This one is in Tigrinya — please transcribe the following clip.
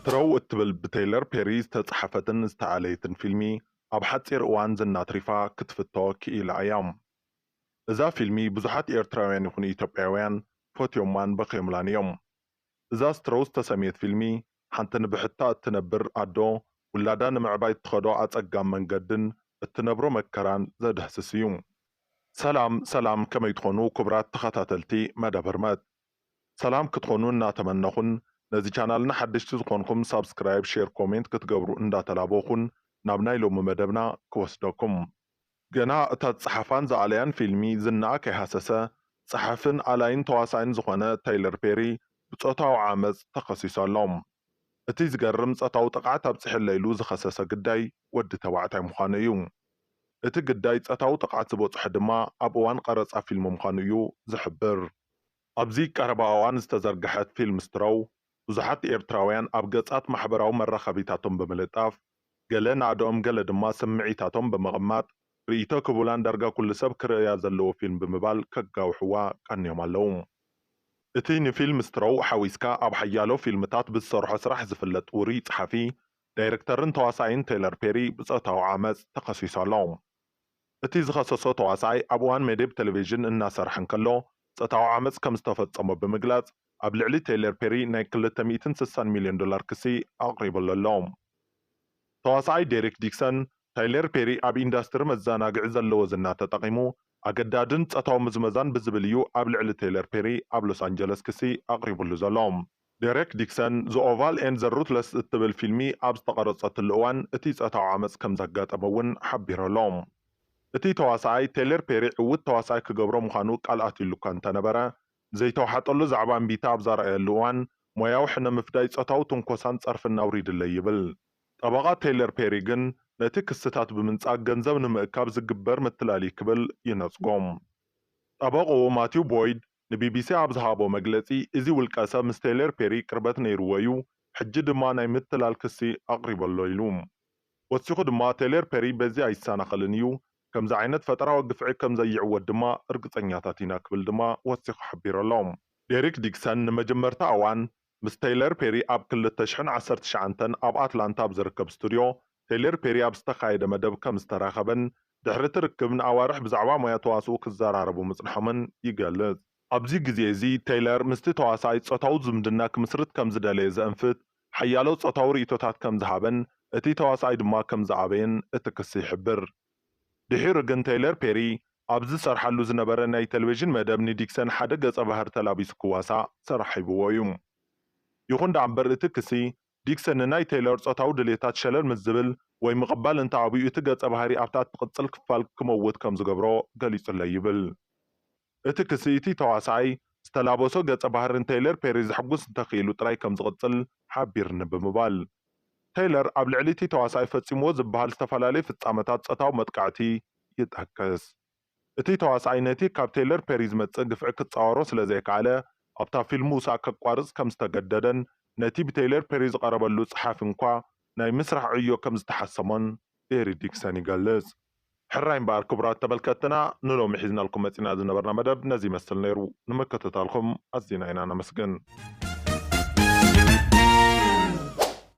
ትሮው እትብል ብተይለር ፔሪ ዝተጽሓፈትን ዝተኣለየትን ፊልሚ ኣብ ሓጺር እዋን ዝና ኣትሪፋ ክትፍቶ ክኢላ እያ። እዛ ፊልሚ ብዙሓት ኤርትራውያን ይኹኑ ኢትዮጵያውያን ፈትዮማን በኽዮምላን እዮም። እዛ ስትሮው ዝተሰምየት ፊልሚ ሓንቲ ንብሕታ እትነብር ኣዶ ውላዳ ንምዕባይ እትኸዶ ኣጸጋም መንገድን እትነብሮ መከራን ዘድህስስ እዩ። ሰላም ሰላም ከመይ ትኾኑ ኩቡራት ተኸታተልቲ መደብ ህርመት ሰላም ክትኾኑ እናተመነኹን ነዚ ቻናልና ሓደሽቲ ዝኾንኹም ሳብስክራይብ ሼር ኮሜንት ክትገብሩ እንዳተላበኹን ናብ ናይ ሎሚ መደብና ክወስደኩም። ገና እታ ዝጸሓፋን ዝኣለያን ፊልሚ ዝናኣ ከይሃሰሰ ጸሓፍን ኣላይን ተዋሳኣይን ዝኾነ ታይለር ፔሪ ብጾታዊ ዓመጽ ተኸሲሱ ኣሎ። እቲ ዝገርም ጸታዊ ጥቕዓት ኣብጽሐለይ ኢሉ ዝኸሰሰ ግዳይ ወዲ ተባዕታይ ምዃኑ እዩ። እቲ ግዳይ ጸታዊ ጥቕዓት ዝበጽሖ ድማ ኣብ እዋን ቐረጻ ፊልሚ ምዃኑ እዩ ዝሕብር። ኣብዚ ቀረባ እዋን ዝተዘርግሐት ፊልም ስትሮው፣ ብዙሓት ኤርትራውያን ኣብ ገጻት ማሕበራዊ መራኸቢታቶም ብምልጣፍ፣ ገለ ናእድኦም ገለ ድማ ስምዒታቶም ብምቕማጥ፣ ርእይቶ ክቡላን ዳርጋ ኩሉ ሰብ ክርእያ ዘለዎ ፊልም ብምባል ከጋውሕዋ ቀንዮም ኣለዉ። እቲ ንፊልም ስትሮው ሓዊስካ ኣብ ሓያሎ ፊልምታት ብዝሰርሖ ስራሕ ዝፍለጥ ውሩይ ጸሓፊ፣ ዳይረክተርን ተዋሳኣይን ቴለር ፔሪ ብጾታዊ ዓመጽ ተኸሲሱ ኣሎ። እቲ ዝኸሰሶ ተዋሳኣይ ኣብ እዋን መደብ ተለቪዥን እናሰርሐ እንከሎ ጾታዊ ዓመጽ ከም ዝተፈጸሞ ብምግላጽ ኣብ ልዕሊ ቴይለር ፔሪ ናይ ክልተ ሚእትን ስሳን ሚልዮን ዶላር ክሲ ኣቕሪብሉ ኣሎ። ተዋሳኣይ ዴሪክ ዲክሰን፣ ታይለር ፔሪ ኣብ ኢንዳስትሪ መዘናግዒ ዘለዎ ዝና ተጠቒሙ ኣገዳድን ጾታዊ ምዝመዛን ብዝብል እዩ ኣብ ልዕሊ ቴይለር ፔሪ ኣብ ሎስ ኣንጀለስ ክሲ ኣቕሪብሉ ዘሎ። ደሬክ ዲክሰን፣ ዘ ኦቫል ኤንድ ዘ ሩትለስ እትብል ፊልሚ ኣብ ዝተቐረጸትሉ እዋን እቲ ጾታዊ ዓመጽ ከም ዘጋጠሞ እውን ሓቢሩ ኣሎ። እቲ ተዋሳኣይ፣ ቴለር ፔሪ ዕዉት ተዋሳኣይ ክገብሮ ምዃኑ ቃል ኣትዩሉ እኳ እንተነበረ፣ ዘይተዋሓጠሉ ዛዕባ እምቢታ ኣብ ዘርኣየሉ እዋን፣ ሞያዊ ሕነ ምፍዳይ ጾታዊ ትንኮሳን ጸርፍን ኣውሪዱለይ ይብል። ጠበቓ ቴለር ፔሪ ግን ነቲ ክስታት ብምንጻግ ገንዘብ ንምእካብ ዝግበር ምትላል እዩ ክብል ይነጽጎ። ጠበቕኡ ማቲው ቦይድ፣ ንቢቢሲ ኣብ ዝሃቦ መግለጺ፣ እዚ ውልቀሰብ ምስ ቴይለር ፔሪ ቅርበት ነይሩዎ'ዩ፣ ሕጂ ድማ ናይ ምትላል ክሲ ኣቕሪበ'ሎ ኢሉ። ወሲኹ ድማ፣ ቴይለር ፔሪ በዚ ኣይሰናኸልን እዩ፣ ከምዚ ዓይነት ፈጠራዊ ግፍዒ ከም ዘይዕወት ድማ እርግጸኛታት ኢና ክብል ድማ ወሲኹ ሓቢሩ'ሎ። ዴሪክ ዲክሰን ንመጀመርታ እዋን ምስ ተይለር ፔሪ ኣብ ክልተ ሽሕን ዓሰርተ ትሽዓንተን ኣብ ኣትላንታ ኣብ ዝርከብ ስቱድዮ ተይለር ፔሪ ኣብ ዝተኻየደ መደብ ከም ዝተራኸበን ድሕሪ እቲ ርክብ ንኣዋርሕ ብዛዕባ ሞያ ተዋስኦ ክዘራረቡ ምጽንሖምን ይገልጽ። ኣብዚ ግዜ እዚ ተይለር ምስቲ ተዋሳኣይ ጾታዊ ዝምድና ክምስርት ከም ዝደለየ ዘእንፍት ሓያሎ ጾታዊ ርእይቶታት ከም ዝሃበን እቲ ተዋሳኣይ ድማ ከም ዝኣበየን እቲ ክሲ ይሕብር። ድሒሩ ግን ተይለር ፔሪ ኣብ ዝሰርሓሉ ዝነበረ ናይ ተለቪዥን መደብ ንዲክሰን ሓደ ገጸ ባህር ተላቢሱ ክዋሳእ ሰራሕ ሂብዎ እዩ። ይኹን ደኣ እምበር እቲ ክሲ፣ ዲክሰን ንናይ ተይለር ጾታዊ ድሌታት ሸለል ምስ ዝብል ወይ ምቕባል እንተ ኣብዩ እቲ ገጸ ባህሪ ኣብታ እትቕጽል ክፋል ክመውት ከም ዝገብሮ ገሊጹለይ ይብል። እቲ ክሲ እቲ ተዋሳኣይ ዝተላበሶ ገጸ ባህሪ ንተይለር ፔሪ ዘሕጉስ እንተኽኢሉ ጥራይ ከም ዝቕጽል ሓቢርኒ ብምባል፣ ተይለር ኣብ ልዕሊ እቲ ተዋሳኣይ ፈጺምዎ ዝበሃል ዝተፈላለዩ ፍጻመታት ጾታዊ መጥቃዕቲ ይጠቅስ። እቲ ተዋሳኣይ ነቲ ካብ ተይለር ፔሪ ዝመጽእ ግፍዒ ክጻወሮ ስለ ዘይከኣለ ኣብታ ፊልም ምውሳእ ከቋርጽ ከም ዝተገደደን ነቲ ብተይለር ፔሪ ዝቐረበሉ ጸሓፊ እንኳ ናይ ምስራሕ ዕዮ ከም ዝተሓሰሞን ዴሪ ዲክሰን ይገልጽ። ሕራይ እምበኣር ክቡራት ተመልከትትና ንሎሚ ሒዝናልኩም መጺና ዝነበርና መደብ ነዚ ይመስል ነይሩ። ንምክትታልኩም ኣዚና ኢና ነመስግን።